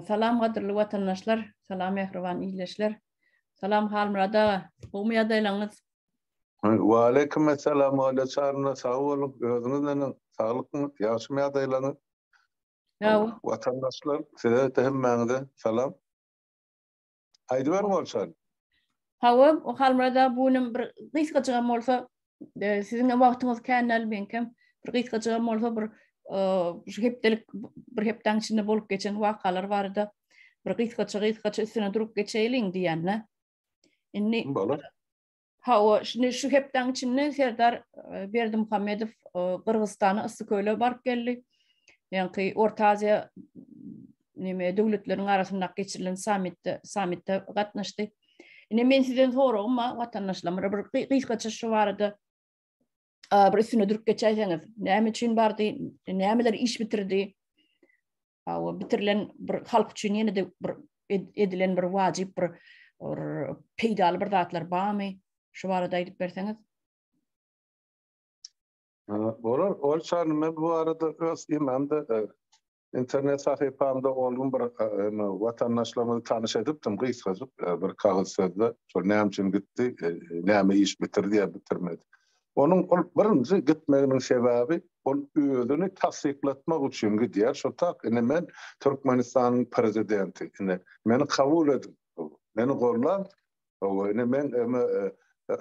Salam gadyrly watandaşlar, salam mähriban ildeşler. Salam Halmyrat aga, gowmy ýagdaýlaryňyz? Wa aleýkum essalam Oýle Çarna, sag boluň. Özüňiz neneň? Saglykmy? Ýagşymy ýagdaýlaryňyz? Ýa-o. Watandaşlar, size-de hemmäňize salam. Aýdyber bolsan. Hawa, Halmyrat aga bu günem bir gysgajygam bolsa, e, siziň wagtyňyz kän däl, meňkem bir gysgajygam bolsa bir e, şu hepdelik bir hepdäň içinde bolup geçen wakalar barada bir gysgaça gysgaça üstüne durup geçeýliň diýýän-dä. Indi bolar. Hawa, şindi şu hepdäň içinde Serdar Berdimuhamedow Gyrgyzystana Yssyköle baryp geldi. Ýaňky Orta Aziýa neme döwletleriň arasynda geçirilen sammitde sammitde gatnaşdy. Ine men sizden soragym bar watandaşlarymyza bir gysgaça şu barada bir üstüne durup geçäýseňiz. Näme üçin bardy? Nämeler iş bitirdi? Hawa, bitirilen bir halk üçin ýene-de bir edilen bir wajyp bir peýdaly bir zatlar barmy? Şu barada aýdyp berseňiz. Bolar, ol çany men bu arada öz imamda e, internet sahypamda oldum bir e, vatandaşlarymyzy tanış edipdim gysgajyk e, bir kagyz sözde. Şol näme üçin gitdi, näme iş bitirdi ya bitirmedi. Onuň ol birinji gitmeginiň sebäbi ol özüni tassyklatmak üçin gidýär şo tak ine men Türkmenistanyň prezidenti ine meni kabul ediň meni gollan hawa ine men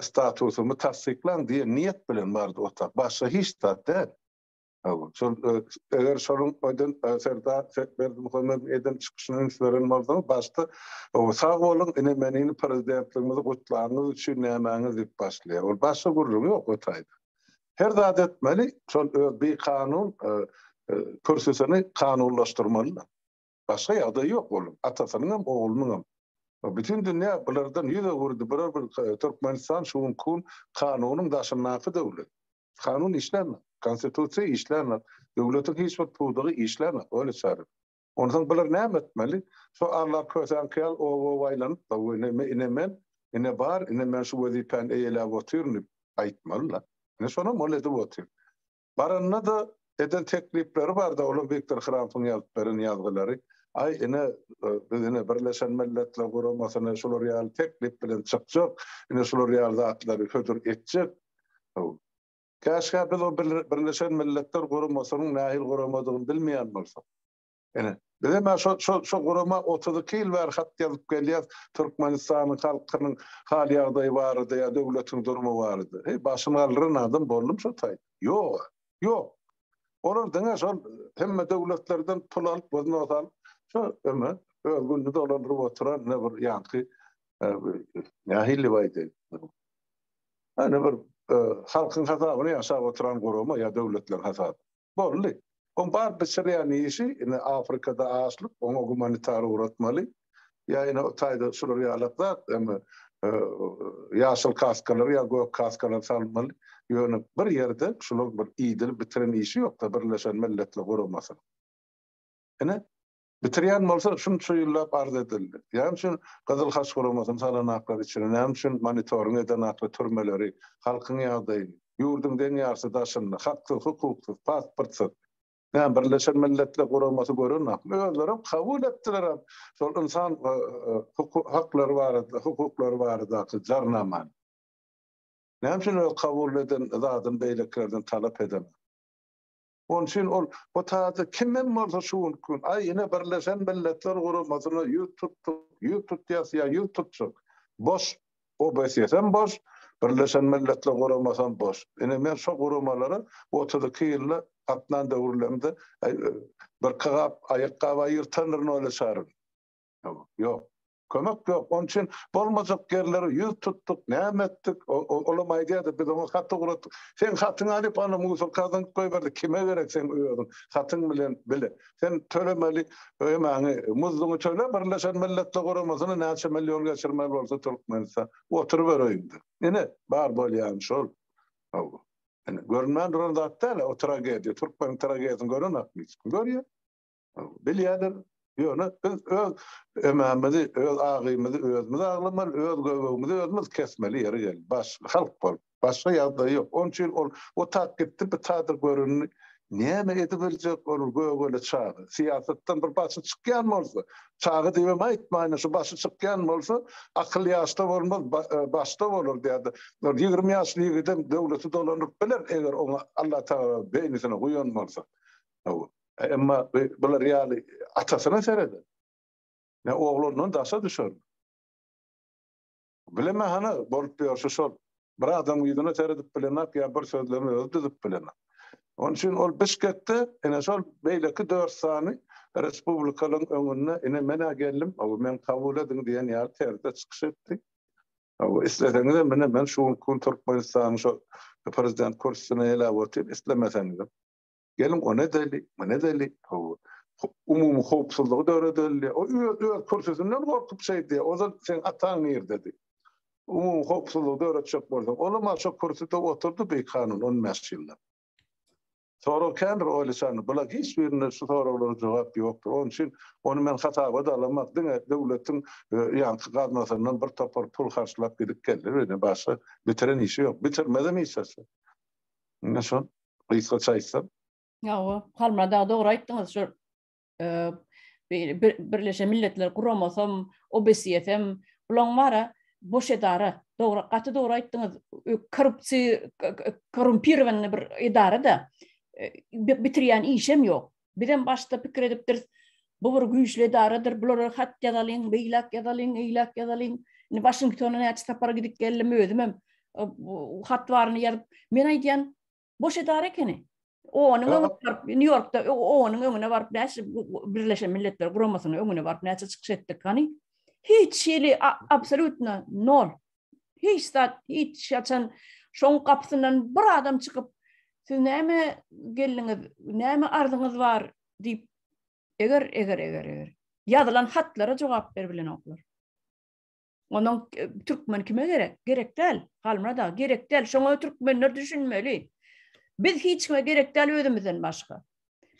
statusymy tassyklaň diýen niýet bilen bardy o tak başga hiç zat däl. Şol eger şonuň öýden Serdar Berdimuhamedow eden çykyşyny üns beren bolsaňyz, başda sag boluň, ine men indi prezidentligimizi gutlanyňyz üçin nämäňiz diýip başlaýar. Ol başga gürrüňi ýok o taýda. Her zat etmeli, şol öz bikanun kürsüsini kanunlaşdyrmaly. Başga ýagdaýy ýok onuň, atasynyň hem, oglunyň hem. Bütin dünýä bulardan ýüz öwürdi, bular bir Türkmenistan şu günki gün kanunyň daşyndaky döwlet. Kanun işlänok, konstitusiýa işlänok, döwletiň hiç bir pudagy işlänok, öýle çaryk. Onsoň bular näme etmeli? Şo Alla kösen kyýal ow-ow aýlanyp-da, we ine, ine men, ine bar, ine men şu wezipäni eýeläp otyryn diýip aýtmaly-la. Ine şonam ol edip otyr. Baranda-da Eden teklipleri bardy, olar Wiktor Hrampyň ýazyp beren ýazgylary. Aý, ine, biz ine Birleşen Milletler Guramasyna şular ýaly teklip bilen çykjak, ine şular ýaly zatlary hödür etjek. Haw. Käşgä biz o Birleşen Milletler Guramasynyň nähili guramadygyny bilmeýän bolsak. Ine, biz hem şo, şo, şo gurama 32 ýyl bäri hat ýazyp gelýäs, Türkmenistanyň halkynyň hal-ýagdaýy barada ýa döwletiň durmy barada. Heý, başyny galdyran adam boldum şo taýda? Ýog-a, ýok. Olar diňe şol hemme döwletlerden pul alyp, wznos alyp, şo öme, öz gününi dolandyryp oturan ne bir ýaňky, e, nähili baýdy? Ene bir e, halkyň hasabyna ýaşap oturan gurama ýa döwletleň hasabyna. Boldy. Oň bar bişirýän işi indi Afrikada açlyk, oňa gumanitar ugratmaly. Ýa ine o taýda şular ýalak zat, indi ýaşyl kaskalary ýa gök kaskalary salmaly. Ýöne bir ýerde şularyň bir iýdirip bitiren işi ýok-da Birleşen Milletler Guramasynyň. Ine, Bitirýän bolsa şunça ýyllap arz edildi. Näme üçin Gyzyl Haç guramasyny salan aklar içine, näme üçin monitoring eden akly türmeleri, halkyň ýagdaýy, ýurduň deň ýarysy daşynda, haksyz, hukuksyz, pasportsyz. Näme Birleşen Milletler guramasy gören akly, özlerem kabul etdilerem şol ynsan haklary barada, hukuklary baradaky jarnamany. Näme üçin öz kabul eden zadyny beýlekilerden talap edemok? Onuň üçin ol bu taýda kim hem bolsa şu günki gün, aý, ine, Birleşen Milletler Guramasyna ýüz tutduk, ýüz tutýas ýa ýüz tutjak. Boş. OBSS-em boş, Birleşen Milletler Guramasam boş. Ine, men şo guramalara otuz iki ýylda gatnan döwürlerimde birki gap aýakgap aýyrtandyr nole çaryn. Ýok. Kömek ýok, onuň üçin bolmajak ýerlere ýüz tutduk, näme etdik, olam aýdýardy, biz oňa hat ugratdyk. Seň hatyňy alyp, ony musorka zyňyp goýberdik, kime gerek seň özüň, hatyň bilen bile. Sen tölemeli, öýmäňi, muzduňy töle, Birleşen Milletler Guramasyna näçe million geçirmeli bolsa Türkmenistan, oturyber öýüňde. Ine, bar bolýany şol. Hawa. Ine, görünmän duran zat däl-ä o tragediýa, türkmeniň tragediýasyny görenokmy hiç kim? Görýär. Bilýärler, ýöne biz öz emämizi, öz agymyzy özümiz aglamaly, öz göbegimizi özümiz kesmeli ýeri geldi. Baş, halk bol. Başga ýagdaý ýok. Onuň üçin ol otap gitdi, bu taýda göründi. Näme edibiljek ol gögele çaga? Syýasatdan bir başy çykýan bolsa, çaga diýibem aýtmaýyn, şu başy çykýan bolsa, akyl ýaşda bolmaz, başda bolar diýýärdi. Ol ýigrimi ýaşly ýigidem döwleti dolanyp biler, eger oňa Allatagala beýnisini guýan bolsa. Emma bular ýaly atasyna sereder. Ne oglundan daşa düşer. Bileme hany bolup ýörşi şol. Bir adam ýüzüne seredip bilenok ýa bir sözlemi özi düzüp bilenok. Onuň üçin ol Bişkekde ine şol beýleki dört sany respublikalaryň öňünde ine men-ä geldim, hawa meni kabul ediň diýen ýaly terzde çykyş etdi. Hawa isleseňizem ine men şu günki gün Türkmenistanyň şol prezident kürsüsine eläp otyryn, islemeseňizem. Geliň, o nädeli, bu nädeli, hawa, umumy howpsuzlygy döredeli, o öz öz kürsüsinden gorkup şeýdi, ozal seň ataň nirdedi. Umumy howpsuzlygy döretjek bolsaň, olam aşa kürsüde oturdy bikanun on bäş ýyllap. Sorag kändir oýlaşany, bula hiç birinde şu soraglara jogap ýokdur. Onuň üçin ony men hasaba-da alamok, diňe döwletiň ýaňky gaznasyndan bir topar pul harçlap gidip geldi, ýöne başga bitiren işi ýok, bitirmezem hiç zat. Ine şol. Gysgaça aýtsam. Hawa, Halmyrat aga dogry aýtdyňyz. Şu Birleşen Milletler Guramasam, OBSE-dem, bulaň bara boş edara. Dogry, gaty dogry aýtdyňyz. Korrupsiýa, korrumpirowanyny bir edara-da, bitirýän işem ýok. Bizem başda pikir edipdiris, bu bir güýçli edaradyr, bulara hat ýazalyň, beýläk ýazalyň, eýläk ýazalyň. Indi Waşingtona näçe sapar gidip geldim, özümem hat baryny ýazyp, men aýdýan, boş edara ekeni. Onuň öňüne baryp, Nýu-Ýorkda onuň öňüne baryp, näçe Birleşen Milletler Guramasynyň öňüne baryp, näçe çykyş etdik, hany? Hiç hili absolýutno nol. hiç zat, hiç haçan şoň gapysyndan bir adam çykyp, siz näme geldiňiz, näme arzyňyz bar diýip, eger, eger, eger, eger, ýazylan hatlara jogap ber bilenoklar. Onuň e, türkmen kime gerek? Gerek däl. Halmyrat aga, gerek däl. Şoňa türkmenler düşünmeli. Biz hiç kime gerek däl özümizden başga.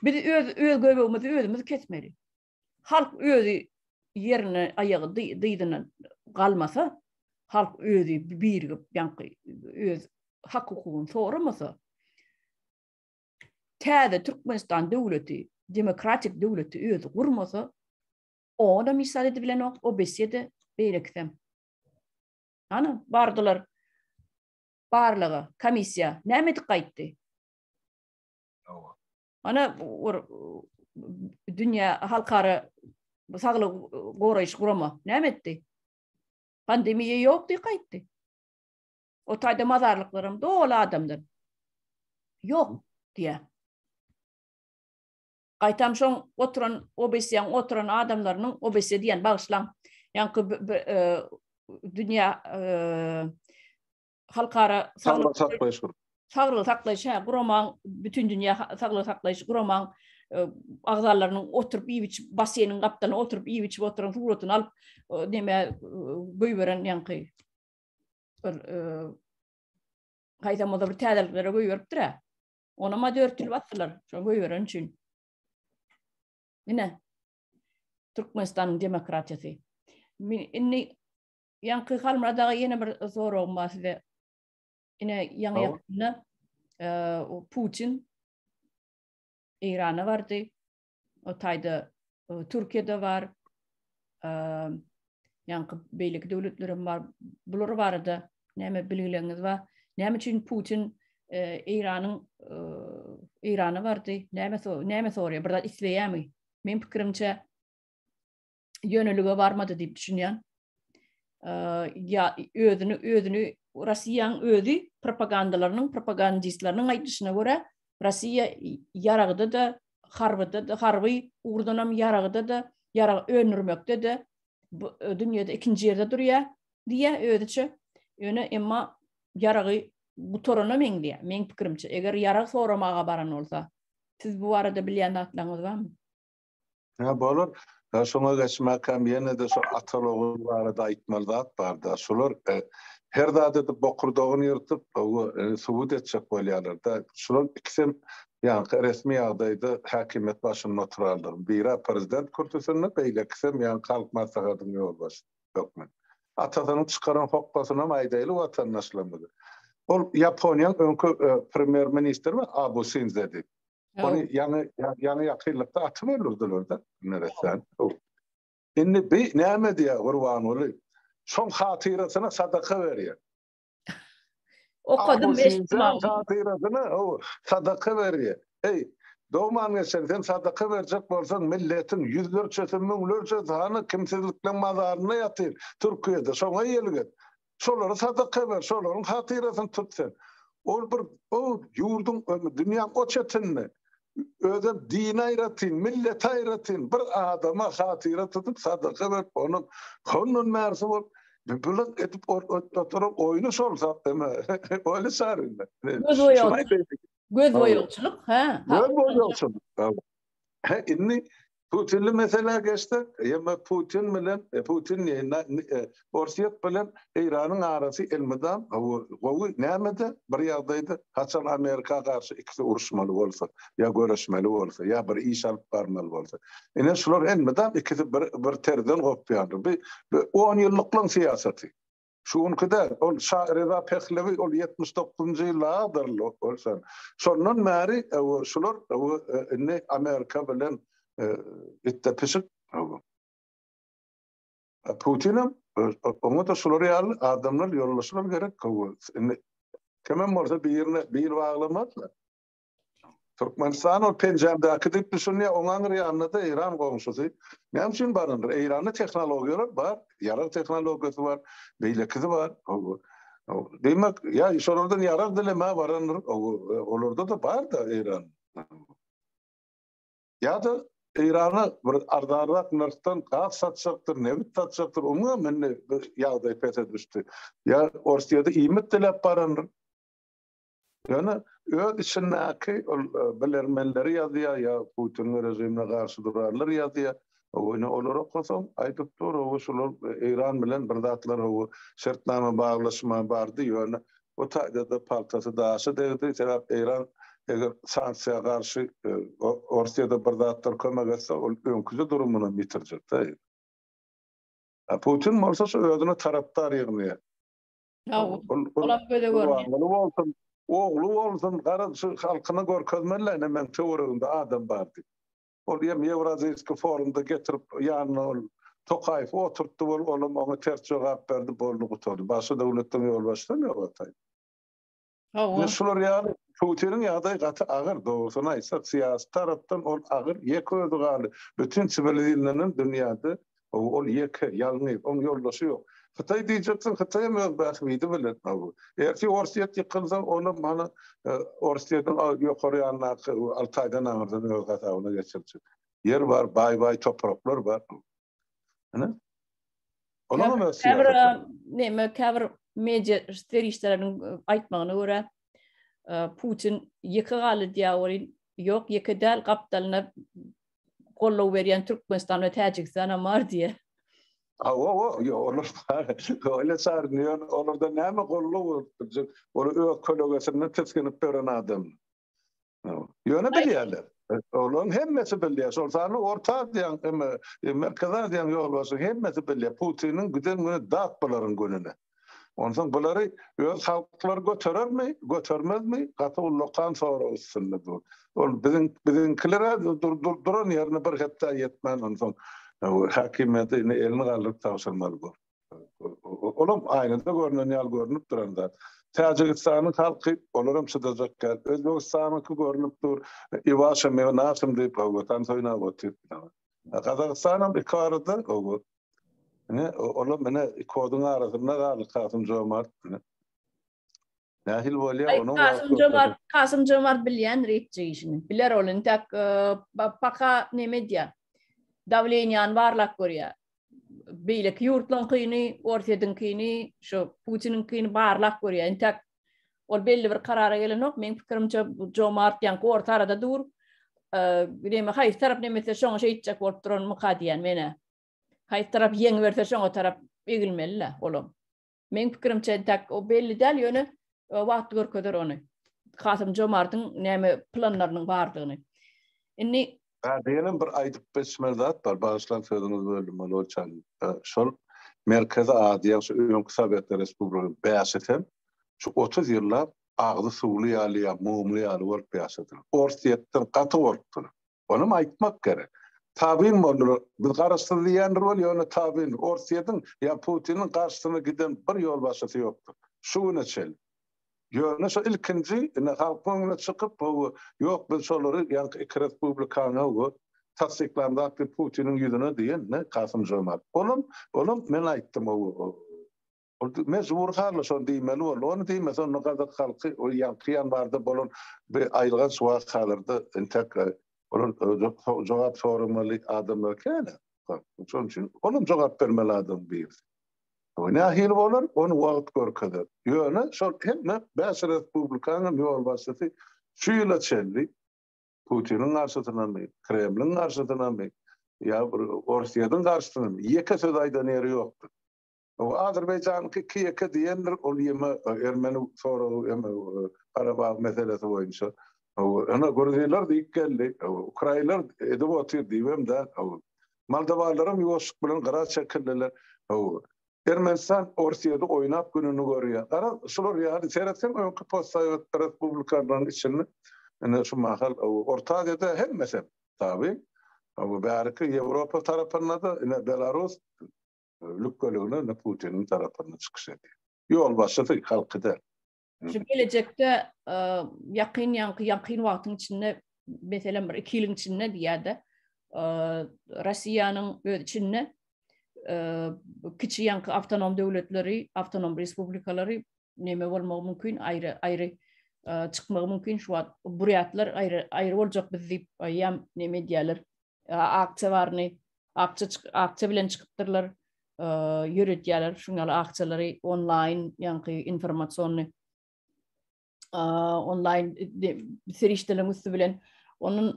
Biz öz öz göbegimizi özümiz kesmeli. Halk özi ýerine aýagy dyzyna galmasa, halk özi birigip, ýaňky öz hak-hukugyny soramasa, täze Türkmenistan döwleti, demokratik döwleti özi gurmasa, oňa-da misal edip bilenok, o besse-de, beýlekisem. Ana, bardylar barlaga, komissiýa, näme edip gaýtdy? Ana bir dünýä halkara saglygy goraýyş gurama näme etdi? Pandemiýa ýokdy, gaýtdy. O taýda mazarlyklar hem doly adamdan. Ýok diýä. Gaýtam şoň oturan obesiýaň oturan adamlarynyň obesiýa diýen bagyşlaň. Ýaňky e, dünýä e, halkara saglygy saklaýyş saglygy saklaýyş hä guramaň bütün dünýä saglygy saklaýyş guramaň e, agzalarynyň oturyp iýip içip basseýniň gapdalyna oturyp iýip içip oturan suratyny alyp näme e, goýberen ýaňky bir e, haýsamada bir täzeliklere goýberipdir hä ona ma dörtül batdylar şo goýberen üçin ine Türkmenistanyň demokratiýasy indi Ýaňky Halmyrat aga ýene bir soragym bar size. Ine ýaňy ýakynda o Putin Eýrana bardy. O taýda Türkiýede bar. Ýaňky beýleki döwletler hem bar. Bular barada näme bilgileriniz bar? Näme üçin Putin Eýranyň Eýrana bardy? Näme näme soraýar? Bir zat isleýärmi? Men pikirimçe ýönelige barmady diýip düşünýän. Ýa özüni özüni Russiýanyň özi propagandalarynyň propagandistleriniň aýdyşyna görä Russiýa ýaragda da harbyda da harby ugurdan hem ýaragda da ýarag öndürmekde de dünýäde ikinji ýerde durýar diýýär özüçe. Ýöne emma ýaragy gutarana meňzeýär. Meň pikirimçe, eger ýarag soramaga baran bolsa, siz bu barada bilýän zatlaryňyz barmy? Hä, bolar. Hä, şoňa geçmäkäm ýene-de şu atal-ogul barada aýtmaly zat bar-da. Şular her zada edip bokurdagyny ýyrtyp, subut etjek bolýarlar-da. Şular ikisem ýaňky resmi ýagdaýda häkimiýet başynda oturarlar. Biri-ä prezident kürsüsinde, beýlekisem ýaňky Halk Maslahatynyň ýolbaşçysy hökmünde. Atasynyň çykaran hokgasynam aýdaýly watandaşlarymyza. Ol Ýaponiýanyň öňki premýer-ministri bar, Abu Sinzedi. Ony ýaňy ýaňy ýakynlykda atyp öldürdiler-de Meretden. Indi bi näme diýýär Gurbanguly? Şoň hatyrasyna sadaka berýär. Okadym eşitmän. Hatyrasyna sadaka berýär. Heý, dogman geçen sen sadaka berjek bolsaň milletiň ýüzlerçesi, müňlerçesi hany kimsizlikleň mazarynda ýatyr Türkiýede. Şoňa ýelget. Şolary sadaka ber, şolaryň hatyrasyny tut sen. Ol bir o ýurduň, dünýäň o çetinde özem dini aýratyn, milleti aýratyn bir adama hatyra tutup sadaka berip, ony hondan bärsi bolup, bylak edip oturan oýny şol zat deme. Oýny çaryna. Göz boýagçylyk, hä? Göz boýagçylyk. Hä, indi Putinli meselä geçsek, ýa-da Putin bilen, Putin diýeýin, na, e, Orsýet bilen Eýranyň arasy elmydam gowy, näme-de bir ýagdaýda, haçan Amerika garşy ikisi uruşmaly bolsa, ýa göreşmeli bolsa, ýa bir iş alyp barmaly bolsa. Ine, şular elmydam ikisi bir, bir terzden gopýandyr. Bi, bi on ýyllyklaň syýasaty. Şu günki däl, ol Şa Reza Pehlewi, ol ýetmiş dokuzynjy ýyllarydyr ol sen. Şondan bäri öwü şular öwü indi Amerika bilen itde pişik öwü. Putinem oňa-da şular ýaly adamlar ýolbaşçylar gerek öwü. Indi kimem bolsa birine bil baglamazlar. Türkmenistan ol penjämdäki diýip düşünýär, oň aňyr ýanynda-da Eýran goňşusy. Näme üçin baryndyr? Eýranda tehnologiýalar bar, ýarag tehnologiýasy bar, beýlekisi bar. Diýmek, ýa şolardan ýarag dilemä barandyr, olarda-da bar-da Eýran. Ýa-da Eýrana bir arzanrak nyrhdan gaz satjakdyr, nebit satjakdyr, oňam indi ýagdaý pese düşdi. Ýa Orsýede iýmit diläp barandyr. Ýöne öz içindäki ol e, bilermenleri ýazýar ýa Putin we režimine garşy durarlar ýazýar. Ony olar okasaň aýdyp dur, o şular e, Eýran bilen bir zatlar o şertnama baglaşma bardy, ýöne bu taýda-da paltasy daşa degdi. Sebäp Eýran eger sanksiýa garşy e, Orsýada bir zatlar kömek etse, ol öňküje durumyny ýitirjek-de. Putin bolsa şu özüne tarapdar ýygnaýar. Sag bol. Olam göze görünýär. Gurbanguly bolsun, ogly bolsun, garaz şu halkyna görkezmeli-le ine meniň töweregimde adam bar diýip. Ol ýem Ýewraziýskiý forumda getirip ýanyna ol Tokaýewi oturtdy bol, olam oňa ters jogap berdi, boldy gutardy. Başga döwletden ýolbaşçysam ýok ataýyn. Hawa. Şular ýaly Putiniň ýagdaýy gaty agyr, dogrusyny aýtsak, syýasy tarapdan ol agyr, ýeke özi galdy. Bütin siwilizirlenen dünýäde ol ýeke, ýalňyz, oň ýoldaşy ýok. Hytaý diýjeksiň, Hytaý hem öz bähbidi bilen. Ertir Orsýet ýykylsa, olam hany Orsýetiň ýokary ýanyndaky Altaýdan aňyrdan öz gazabyna geçirjek. Ýer bar, baý-baý topraklar bar. Ana. Olar hem siyasat. Neme kabir media serişdeleriniň e, aýtmagyna görä e, Putin ýeke galy diýýär Ýok, ýeke däl gapdalyna gollow berýän Türkmenistan we Täjigistan hem bar diýýär. Ha, o, o, yo, olar öyle sarnıyor, olarda näme gollu bolupdur, olar öz kölegesinde tiskinip tören adam. Ýöne bilýärler. Olaryň hemmesi bilýär. Şol sany Orta Aziýaň, emma e, Merkezi Aziýaň ýolbaşçy hemmesi bilýär. Putiniň giden güni dat bularyň gününe. Onsoň bulary öz halklary göterermi, götermezmi? Gaty ullakan sorag üstünde dur. Ol biziň biziňkiler dur dur duran ýerine bir hepdä ýetmän onsoň e, häkimiýeti elini galdyryp tabşyrmaly bor. Olam aýnada görnen ýaly görnüp duran zat. Täjigistanyň halky olaram çydajak däl. Özbegistanyňky görnüp dur. Iwaşa meňe naşym diýip howatan soýnap otyr. Gazagystanam iki arada owo. Ine olam ine iki oduň arasynda galdy Kasym Jomart. Nähili bolýar onuň? Kasym Jomart, Kasym Jomart bilýän reýtje işini. Biler ol intäk paka näme edýä? Dawleniýany barlap görýä. Beýleki ýurtlaryň kyny, Orsýetiň kyny, şu Putiniň kyny barlap görýä. Intäk ol belli bir karara gelenok. Meň pikirimçe Jomart ýaňky orta arada dur. Näme haýsy tarap näme etse şoňa şeýtjek bolup duran myka diýýän menä. Haýsy tarap ýeňiberse şoňa tarap egilmeli-le olam. Meň pikirimçe entäk o belli däl, ýöne e, wagt görkezer ony. Kasym Jomartyň näme planlarynyň bardygyny. Indi Ha, diýenem bir aýdyp geçmeli zat bar. Bagyşlaň sözüňizi böldüm, Molow çaly. Şol Merkezi Aziýa, şu öňki Sowetler Respublikasynyň bäşisi hem şu 30 ýyllap agzy suwly ýaly ýa mumly ýaly bolup ýaşadylar. Orsýetden gaty gorkdular. Onam aýtmak gerek. Tabyn boldular. Biz garaşsyz diýýändir weli ýöne tabyndyr. Orsýetiň ýa Putiniň garşysyna giden bir ýolbaşçysy ýokdur. Şu güne çenli. Ýöne şo ilkinji ine halkyň öňüne çykyp bu ýok biz şolary ýaňky iki respublikany we tassyklandak diýip Putiniň ýüzüne diýen ne Kasym-Žomart. Olam olam men aýtdym o Ol mejbury halda şony diýmeli boldy. Ony diýmese, onda gazak halky ol ýaňky ýanwarda bolan bir aýylganç wakalarda entek olar jogap soramaly adamlar kän-ä. Şonuň üçin olam jogap bermeli adamyň birisi. Bu nähili bolar, ony wagt görkezer. Ýöne şol hemme bäş respublikanyň ýolbaşçysy şu ýyla çenli Putiniň garşysynamy, Kremliň garşysynamy ýa bir Orsýetiň garşysynamy ýeke söz aýdan ýeri ýokdur. Bu Azerbaýjanyňky Kiýeke diýendir, ol ýeme ermeni soragy eme Garabag meselesi boýunça. Ene Gruzinler diýip geldi, Ukrainler edip otyr diýibem däl. Moldowalaram ýuwaşlyk bilen gyra çekildiler. Ermenistan Orsýedi oýnap gününi görýär. Gara şular ýaly seretseň öňki postsowet respublikalaryň içinde ene şu mahal Orta Aziýada hemmesem tabi. Bäriki Ýewropa tarapynda-da ene Belarus Lükgölügine Putiniň tarapynda çykyş edýär. Ýolbaşçysy halky däl. Şu gelejekde ýakyn ýaňky ýakyn wagtyň içinde meselem bir iki ýylyň içinde diýýärde Russiýanyň öz içinde kiçi ýaňky awtonom döwletleri, awtonom respublikalary neme bolmagy mümkin, aýry aýry çykmagy mümkin şu wagt burýatlar aýry aýry boljak biz diýip aýam neme diýýärler aksiýa baryny Akça akça bilen çykypdyrlar, ýöredýärler şuň ýaly akçalary onlaýn, ýaňky informasiony onlaýn serişdeleriň üsti bilen Onun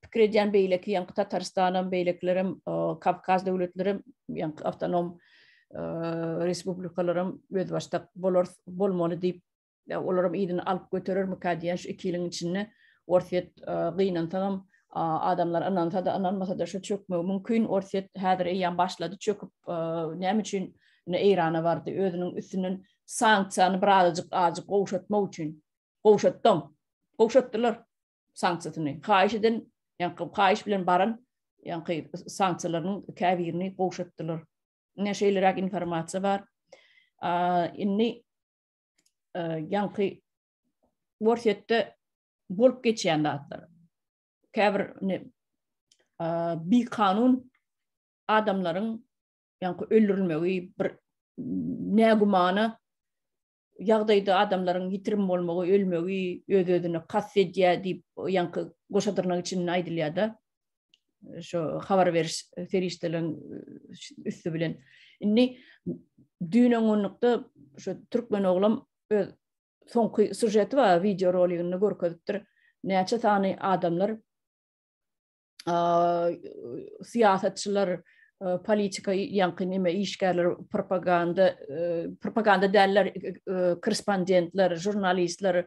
pikir edýän beýleki ýaňky Tatarystan hem beýlekiler hem Kawkaz döwletleri hem ýaňky awtonom respublikalar hem özbaşdak bolar bolmaly diýip Ýa olaram yzyny alyp göterermikä diýýän şu iki ýylyň içinde Orsýet gynansagam adamlar ynansa-da ynanmasa-da şu çökmegi mümkin. Orsýet häzir eýýäm başlady çöküp näme üçin indi Eýrana bardy özüniň üstünden sanksiýany birazajyk ajyk gowşatmak üçin. Gowşatdam. Gowşatdylar sanksiýasyny. Haýyş eden ýa-da haýyş bilen baran ýa-da sanksiýalarynyň käbirini gowşatdylar. Ine şeýleräk informasiýa bar. Indi e, ýaňky Worsetde bolup geçýän zatlar. Käbir ne e, bi kanun adamlaryň ýaňky öldürilmegi bir nägümana ýagdaýda adamlaryň ýitirim bolmagy, ölmegi öz-özüne kast edýär diýip, ýaňky goşadyrnak içinde aýdylýar-da. şu habar beriş serişdeleriň üstü bilen. Indi düýn öňňünlikde şu türkmen oglam öz soňky sujeti bar, video roligini görkezipdir. Näçe sany adamlar syýasatçylar politika ýaňky näme işgärler propaganda propaganda däller korrespondentler žurnalistler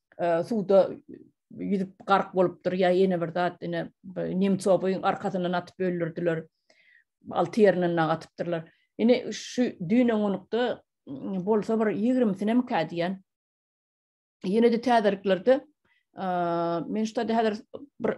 suwda ýüzüp gark bolupdyr ýa ýene bir zat ine nemcowyň arkasyndan atyp öldürdiler alty ýerinden nag atypdyrlar ine şu düýn öňňünlikde bolsa bir ýigrimisinem kä diýen ýene-de täzeliklerde men şu taýda häzir bir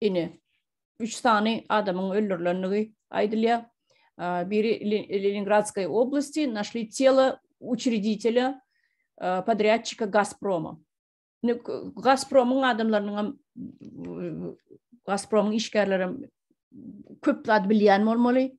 Ine, üç sany adamyň öldürilendigi aýdylýar. Biri Leningradskay oblasti, našli telo uçreditele podrýadçika Gazproma. Gazpromyň adamlarynyň hem Gazpromyň işgärleri hem köp zat bilýän bolmaly.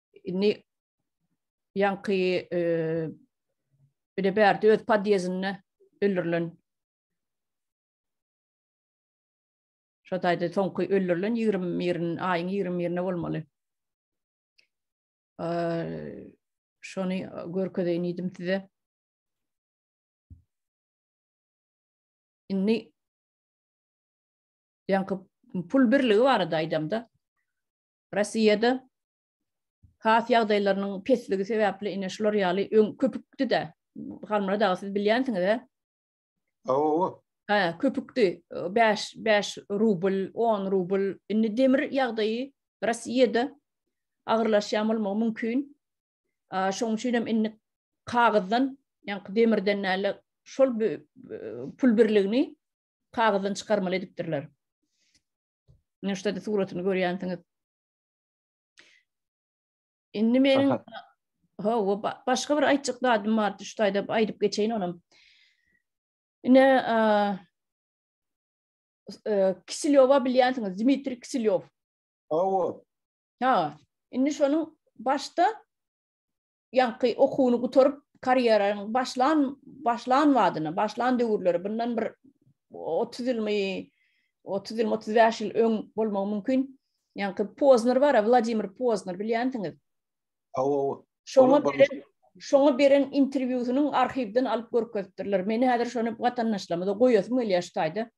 Indi ýaňky e, bir de bärde öz podýezinde öldürilen Şo taýda soňky öldürilen 21 aýyň 21-ne bolmaly. Şony görkezeýin idim size. Indi ýaňky pul birligi barada aýdamda Rossiýada has ýagdaýlarynyň pesligi sebäpli ine şular ýaly öň köpükdi-de. Halmyrat aga siz bilýänsiňiz-ä? Hawa. Hä, köpükdi. 5 5 rubl, 10 rubl. Indi demir ýagdaýy Rossiýada agyrlaşýan bolmagy mümkin. Şonuň üçin hem indi kagyzdan, ýaňky demirden näle şol pul birligini kagyzdan çykarmaly edipdirler. Ine şuda suratyny görýänsiňiz. Indi meniň ha we başga bir aýtjak zadym bar, şu taýda aýdyp geçeýin onam. Ine Kisilýowa bilýänsiňiz, Dmitri Kisilýow. Hawa. Ha, indi şonuň başda ýaňky okuwyny gutaryp, karýeraň başlan başlan wadyna, başlan döwürleri, bundan bir otuz ýylmy, otuz ýylmy, otuz bäş ýyl öň bolmagy mümkin. Ýaňky Pozner bar, Wladimir Pozner bilýänsiňiz. Hawa, hawa. Şoňa beren, şoňa beren interwýusynyň arhiwden alyp görkezipdirler. Meni häzir şony watandaşlarymyza goýasym gelýär şu taýda.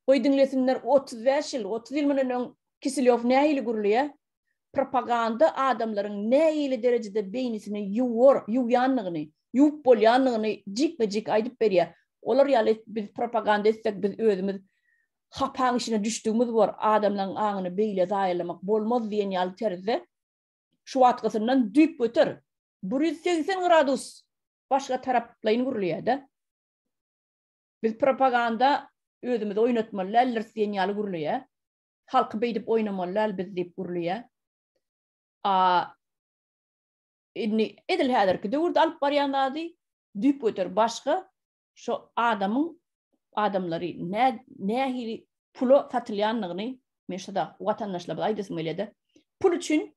Goý diňlesinler, otuz bäş ýyl, otuz ýyl mundan öň Kiselýow nähili gürleýär? Propaganda adamlaryň nähili derejede beýnisini ýuwar, ýuwýandygyny, ýuwup bolýandygyny jikme-jik aýdyp berýär. Olar ýaly biz propaganda etsek, biz özümiz hapaň içine düşdügimiz bor, adamlaryň aňyny beýle zaýalamak bolmaz diýen ýaly terzde şu wagtgysyndan düýpgöter, bir ýüz segsen gradus başga taraplaýyn gürleýär-de. Biz propaganda özümizi oýnatmaly däldiris diýen ýaly gürleýär. Halky beýdip oýnamaly däl biz diýip gürleýä. A indi edil häzirki döwürde alyp barýan zady düýp göter başga şu adamyň adamlary nä nähili pula satylýandygyny men şada watandaşlarymyza aýdasym gelýär-de. Pul üçin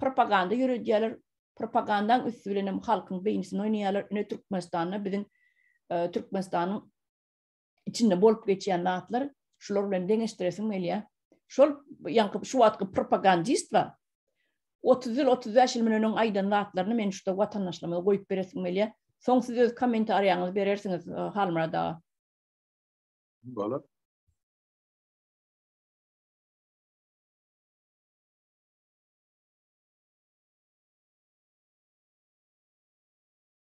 propaganda ýöredýärler. Propagandaň üsti bilen hem halkyň beýnisini oýnaýarlar. Ine Türkmenistanda biziň e, Türkmenistanyň içinde bolup geçýän zatlar şular bilen deňeşdiresim gelýär. Şol ýaňky şu wagtky propagandist bar. 30 ýyl 35 ýyl menen öň aýdan zatlaryny men şuda watandaşlarymyza goýup beresim gelýär. Soň siz öz kommentariýaňyzy berersiňiz e, Halmyrad aga. Bolar.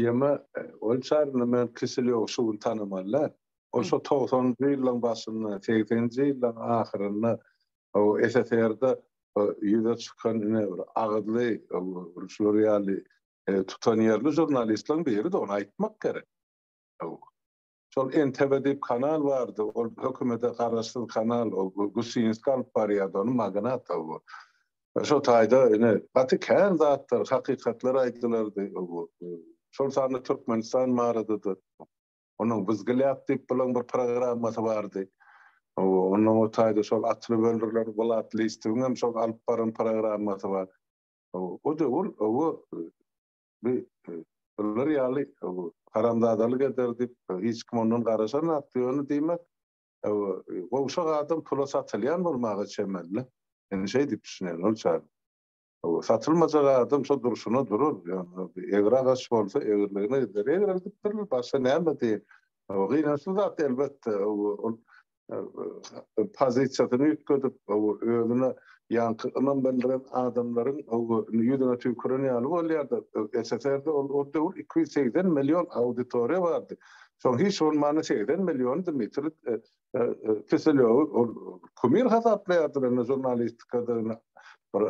Ýeme, ol çaryny men Kiselýow şu gün tanamaly-dä. Ol şo togsanynjy ýyllaryň başynda, segseninji ýyllaryň ahyrynda SSR-de ýüze çykan ine bir agyzly, şular ýaly tutanýerli žurnalistleriň biri-de, ony aýtmak gerek. Şol NTV diýip kanal bardy, ol hökümete garaşsyz kanal, ol Gusinskiý alyp barýardy ony, magnat o bu. Şo taýda ine gaty kän zatlar, hakykatlar aýdylardy o bu. Şol sanda Türkmenistan barada-da, onuň Wzglýad diýip bilen bir programmasy bardy. Onnoň o taýda şol atly böldürler, Wlat Listowyň hem şol alyp baran programmasy bar. O döwür o Biz bular ýaly haramzadalyk eder diýip, hiç kim ondan garaşanok. Ýöne diýmek, gowşak adam pula satylýan bolmaga çemeli. Men şeý diýip düşünýän ol çagy. Satylmajak adam şo durşuna durar. Ýöne egri agaç bolsa, egriligine gider. Egri gidipdirler, başga näme diýeýin. Gynançly zat elbetde. Ol pozisiýasyny üýtgedip, özüne ýaňky ynam bildiren adamlaryň ýüzüne tüýküren ýaly bolýar-da. SSR-de ol döwür iki ýüz segsen million auditoriýa bardy. Şoň hiç bolmanda segsen milliony Dmitri Kiselýowy ol kumir hasaplaýardylar, indi žurnalistikada bir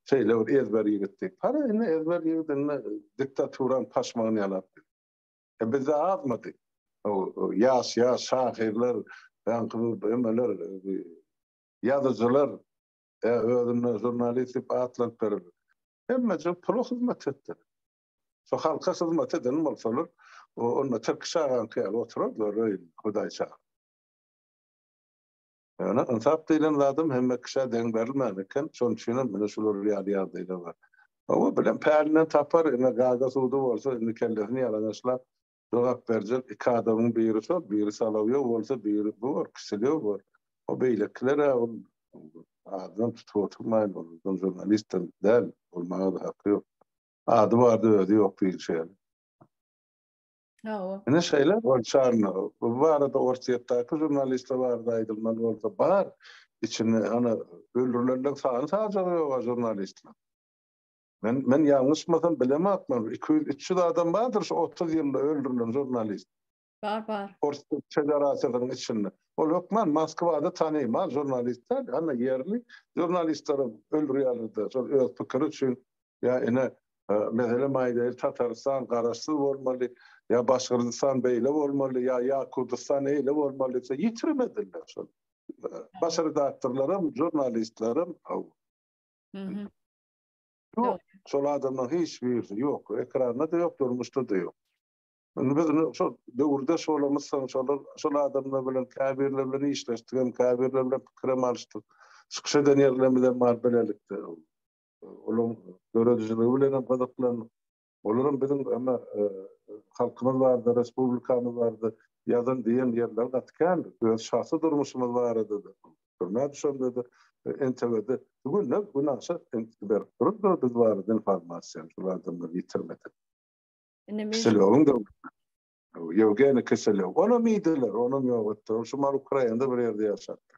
şeýle bir ezber ýigitdi. Hany, indi ezber ýigit indi diktaturanyň paşmagyny ýalapdy. E bizde azmydy? Ýaş ýaş şahyrlar, ýaňky emeler, ýazyjylar, e özüne žurnalist diýip atlaryp berildi. Hemmeje pula hyzmat etdi. Şu halka hyzmat eden bolsalar, onda Tirkiş agaňky ýaly oturardylar öýünde, Hudaýşa. Ýöne ynsap diýlen zadam hemme kişä deň berilmän eken, şonuň üçinem ine şular ýaly ýagdaýlar bar. Hawa, bilen pälinden tapar, ine gaga-sudy bolsa, indi kellesini ýalaňaçlap jogap berjek iki adamyň biri şol, biri Solowýow bolsa, biri bu bor, Kiselýow bor. O beýlekiler-ä ol adynam tutup oturmaýyn, ol uzyn žurnalistdem däl, bolmaga-da haky ýok. Ady bardy, özi ýok diýilşi ýaly. Hawa. Ine şeýle bolşarna. Bu barada Orsýetdäki žurnalistler barada aýdylmaly bolsa bar. Içinde ana öldürilenler sany sajagy ýok žurnalistler. Men men ýalňyşmasam bilemokman 200-300 adam bardyr şu 30 ýylda öldürilen žurnalist. Bar bar. Orsýet federasiýasynyň içinde. Ol hökman Moskwada tanymal žurnalistler, ana ýerli žurnalistleri öldürýärler-de, şol öz pikiri üçin ýa ine meselem aýdaýyl Tatarystan garaşsyz bolmaly ýa Başgyrdystan beýle bolmaly ýa ýa Kurdystan eýle bolmaly diýse ýitirmediler şol. Baş redaktorlaram, žurnalistlerim aw. Mhm. Ýok, şol adamlaryň hiç birisi ýok, ekranda-da ýok, durmuşda-da ýok. Indi biz şol döwürdeş bolamyz, şolar şol adamlar bilen käbirleri bilen işleşdik hem käbirleri bilen pikirem alyşdyk. Çykyş eden ýerlerimiz hem bar bilelikde. olaryň döredijiligi bilen hem gyzyklandyk. Olar hem biziň emma halkymyz barada, respublikamyz barada ýazan diýen ýerleri gaty kän. Öz şahsy durmuşymyz barada-da, türmä düşende-de, NTW-de günde gün aşa berip durupdyr biz barada informasiýany şol adamlar ýitirmedik. Kiselowyň döwründe. Ýewgeniý Kiselow. Onam iýdiler, onam ýok etdiler. Ol şu Ukrainada bir ýerde ýaşapdyr.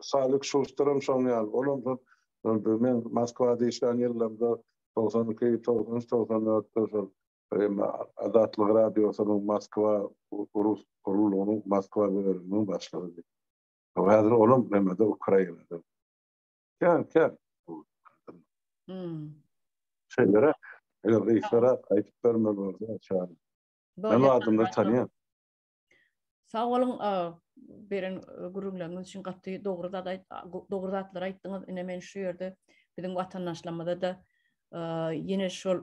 Salik Şuşteram şoň ýaly. Olam şol men Moskwada işlän ýyllarymda togsan iki, togsan üç, togsan dörtde şol Azatlyk radiosynyň Moskwa rus guruluşynyň Moskwa bölüminiň başlygydy. Häzir olam näme-de Ukrainada. Kän, kän. Şeýlere, eger gyşara aýdyp bermeli bolsa, çagy. Men adamlary tanýan. Sag boluň, beren gürrüňleriňiz üçin gaty dogry zat dogry zatlar aýtdyňyz. Ine men şu ýerde biziň watandaşlarymyza da ýene şol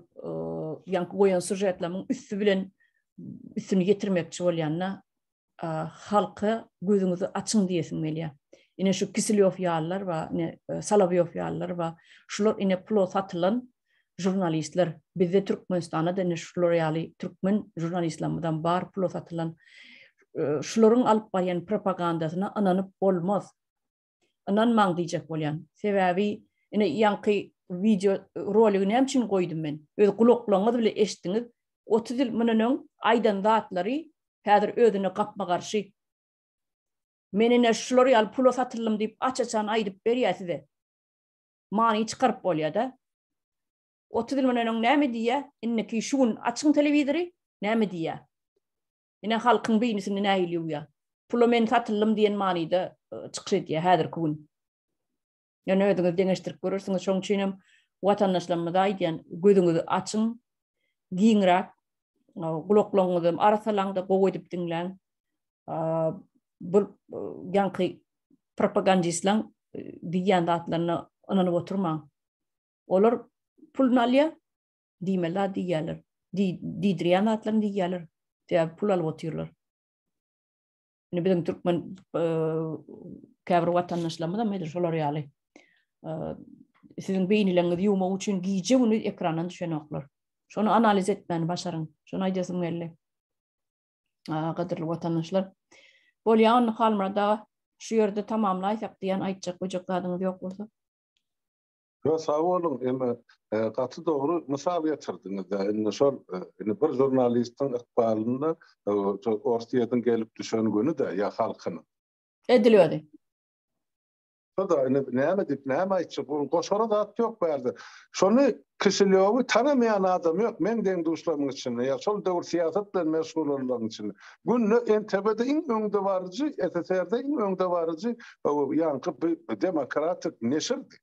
ýaňky goýan sujetleriň üsti bilen üstüni ýetirmekçi bolýanda halka gözüňizi açyň diýesim gelýär. Ine şu Kisilýow ýalylar we ine Salawýow ýalylar we şular ine pula satylan Žurnalistler, bizde Türkmenistanda da ine şular ýaly türkmen žurnalistlamyzam bar pula satylan. Şularyň alyp barýan propagandasyna ynanyp bolmaz. Ynanmaň diýjek bolýan. Sebäbi ine ýaňky wideo roligi näme üçin goýdum men? Öz gulaklaryňyz bile eşitdiňiz. Otuz ýyl mundan öň aýdan zatlary häzir özüne gapma garşy. Men ine şular ýaly pula satyldym diýip aç-açan aýdyp berýär size. many çykaryp bolýada. 30 ýyl mundan öň näme diýýä, indiki şu gün açyň telewizory, näme diýýä? Ine halkyň beýnisini nähili ýuwýa? Pula men satyldym diýen manyda e, çykyş edýä häzirki gün. Ýöne özüňiz deňeşdirip görersiňiz, şoň üçin hem watandaşlarymyza aýdýan, gözüňizi açyň, giňräk gulaklaryňyzy arasalaňda gowy edip diňläň. bir ýaňky propagandistlaň diýýän zatlaryna ynanyp oturmaň. Olar pul nalýa diýmeli zat diýýärler. Diýdirýän zatlaryny diýýärler. Sebäbi pul alyp otyrlar. Indi biziň türkmen käbir watandaşlarymyz hem edil şolar ýaly. Siziň beýnileňizi ýumak üçin gije güni ekrandan düşenoklar. Şony analiz etmäni başaryň. Şony aýdasym geldi. gadyrly watandaşlar. Bolýa onda Halmyrat aga şu ýerde tamamlaýsak diýen aýtjak böjek zadyňyz ýok bolsa. Yo sag bolun, emme gaty dogry mysal getirdiňiz. Indi şol indi bir žurnalistiň ykbalynda Orsiýadan gelip düşen güni-de ýa halkynyň. Edil özi. Hudaý indi näme diýip, näme aýtjak? Onuň goşara zat ýok bärde. Şony Kişilýowy tanamaýan adam ýok meň deň-duşlarymyň içinde ýa şol döwür syýasat bilen meşgul bolanlaryň içinde. Günde NTB-de iň öňdebaryjy, SSR-de iň öňdebaryjy ýaňky bi demokratik neşirdi.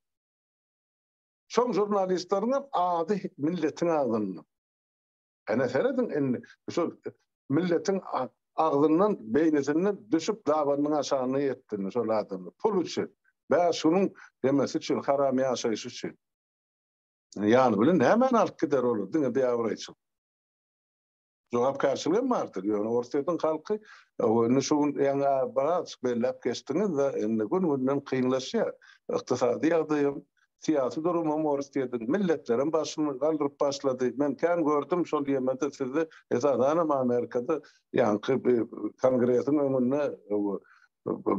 Şoň žurnalistleriňem ady milletiň agzynda. Ene serediň indi şu milletiň agzyndan beýnisinden düşüp dabanyň aşagyna ýetdini şol adamlar pul üçin bäş günüň ýemesi üçin haram ýaşaýşy üçin ýany bilen nämäni alyp gider olar diňe biabraýçylyk jogapkärçiligem bardyr ýöne orsýetiň halky indi şu gün ýaňy biraz belläp geçdiňiz-de indi gün günden kynlaşýar ykdysady ýagdaýam Syýasy durumam ors diýedin. Milletlerem başyny galdyryp başlady. Men kän gördüm şol ýemede sizi, esasanam Amerikada ýaňky kongresiň öňünde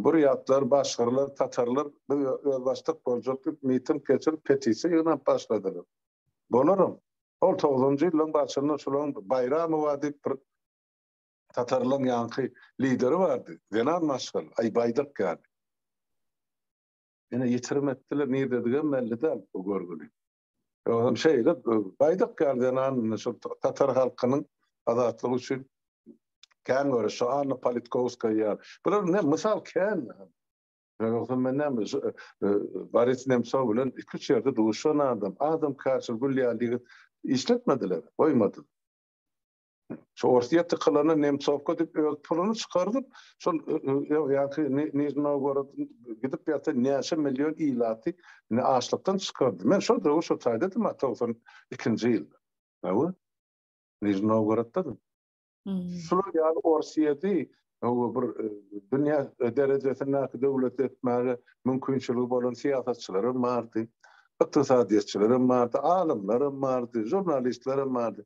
burýatlar, başgyrlar, tatarlar biz özbaşdak boljak diýip miting geçirip petisiýa ýygnap başladylar. Bolaram. Ol togsanjy ýyllaryň başynda şulaň Baýramowa diýip bir tatarlaryň ýaňky lideri bardy. Zenan maşgala, aý baýdak ýaly. Ine, ýitirim etdiler, nirdedigem belli däl bu görgüni. Özem şeýle, Baýdak ýaly zenan indi şol tatar halkynyň azatlygy üçin kän göreşdi, Anna Politkowskaýa ýaly. Bular ne, mysal kän. Ýogsa men näme, şu Boris Nemsow bilen iki-üç ýerde duşan adam, adamkärçil, gül ýaly ýigit işletmediler, goýmadylar. Şu Orsiýa tykylany Nemtsowka dip öz puluny çykardyp, şol ýa-ki Nižny Nowgorod gidip ýa-da näçe million ilaty indi açlykdan çykardy. Men şol döwür şo taýda edem a togsan ikinji ýylda. Hawa. Nižny Nowgorodda-dym. Şular ýaly Orsiýady hawa bir dünýä derejesindäki döwlet etmäge mümkinçiligi bolan syýasatçylar hem bardy. Ykdysadyýetçiler hem bardy, alymlar hem bardy, žurnalistler hem bardy.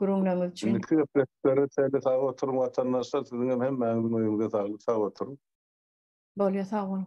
gürrüňleriňiz üçin. Indiki gepleşiklere çenli sag oturyň watandaşlar, siziňem hemmäňiziň öýüňize saglyk sag oturyň. Bolýar sag boluň.